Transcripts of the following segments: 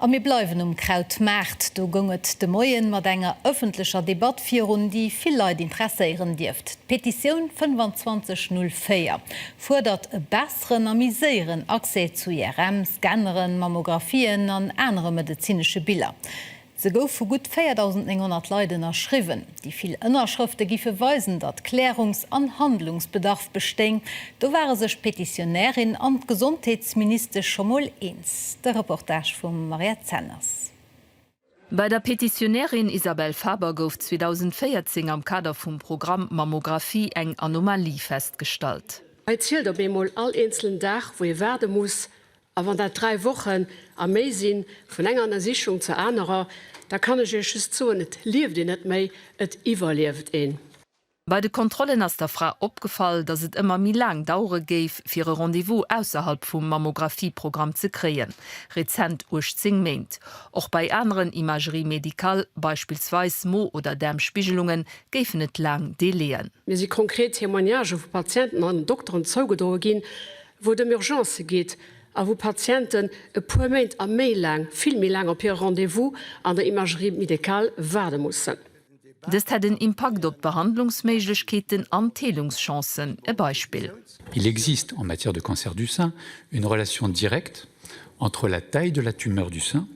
A mir bleiwen um Krautmaart. Do goung et de Moien mat enger ëffentlecher Debatt virun, déi vill Leit interesséieren dierft. D'Petitioun 25 04 fuerdert e besseren a méi séieren Accès zu IRM, Scanneren, Mammographien an anere medezinesche Biller. Se gouf vu gutt 4.900 Leit ënnerschriwwen. Déi vill Ënnerschrëfte giffe weisen, datt Klärungs an Handlungsbedarf bestéing. Do ware sech d'Petitionärin an d'Gesondheetsministesch scho mol eens. De Reportage vum Mariette Zenners. Bei der Petitionärin Isabelle Faber gouf 2014 am Kader vum Programm Mammographie eng Anomalie festgestallt. Hei zielt op eemol all eenzelen Dag, wou ee waarde muss, A wann dat dräi Wochen a méi sinn, vun enger Ënnersichung zur anerer, da kann ech Iech just soen, et lieft een net méi, et iwwerlieft een. Bei de Kontrollen ass der Fra opgefall, datt et ëmmer méi laang dauere géif, fir e Rendez-vous ausserhalb vum Mammografieprogramm ze kréien, rezent 18 Méint. Och bei aneren Imageries médicales, beispillsweis Mo oder Daarmspigelungen, géifen et laang Délai'en. Mir si konkret Témoignagen vu Patienten an Dokteren zougedroe ginn, wou et ëm Urgencë geet a wou Patienten e puer Méint a méi laang, vill méi laang, op hire Rendez-vous an der Imagerie médicale waarde mussen. Dëst hätt en Impakt op d'Behandlungsméiglechkeeten an d'Heelungschancen. E Beispill. Il existe, en matière de cancer du sein, une relation directe entre la taille de la tumeur du sein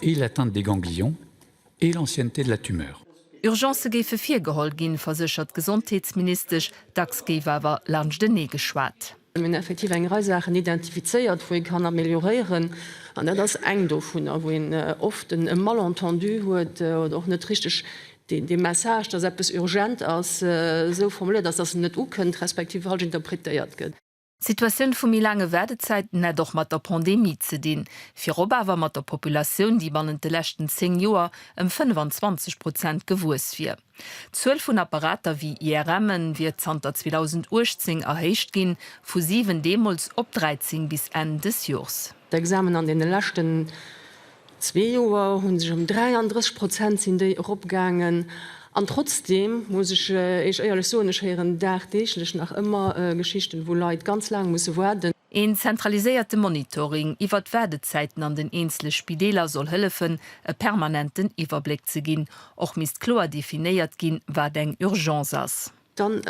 et l'atteinte des ganglions. et l'ancienneté de la tumeur. Urgencë géife virgeholl ginn, verséchert d'Gesondheetsministesch. Dacks géif awer laanschtenee geschwat. Mir hunn effektiv eng Rei Saachen identifizéiert, wou ee kann amelioréieren. An dat ass eng dovunner, wou een oft e Malentendu huet oder och net richteg de Message, dass eppes urgent ass, esou formuléiert ass, dass en net ukënnt, respektiv falsch interpretéiert gëtt. D'Situatioun vu méi laange Waardezäiten hätt och mat der Pandemie ze dinn, virop awer mat der Populatioun, déi bannent de leschten 10 Joer ëm 25 Prozent gewuess wier. D'Zuel vun Apparater wéi IRMen wier zanter 2018 erhéicht ginn, vu 7 deemools op 13 bis Enn des Jors. D'Examen an deene leschten Zwee Joer hu sech ëm 33 Prozent sinn déi eropgaangen. An trotzdeem muss ech Iech éierlech soen, ech héieren dagdeeglech nach ëmmer Geschichten, wou Leit ganz laang musse waarden. Een zentraliséierte Monitoring iwwert d'Waardezäiten an den eenzele Spideeler soll hëllefen, e permanenten Iwwerbléck ze ginn. Och misst kloer definéiert ginn, wat eng Urgence ass. Dann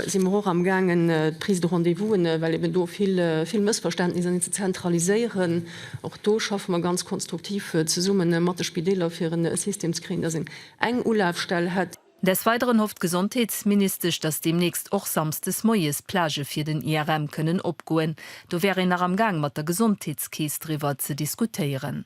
si mer och am gaangen d'Prise de rendez-vous'en, well eben do vill vill Mëssverständnisser sinn, ze zentraliséieren. Och do schaffe mer ganz konstruktiv zesumme mat de Spideeler fir e System ze kréien, dass een eng Ulafstell hätt. Des Weideren hofft d'Gesondheetsministesch, dass deemnächst och samsdes moies d'Plagë fir den IRM kënnen opgoen. Do wär een nach am gaang mat der Gesondheetskeess driwwer ze diskutéieren.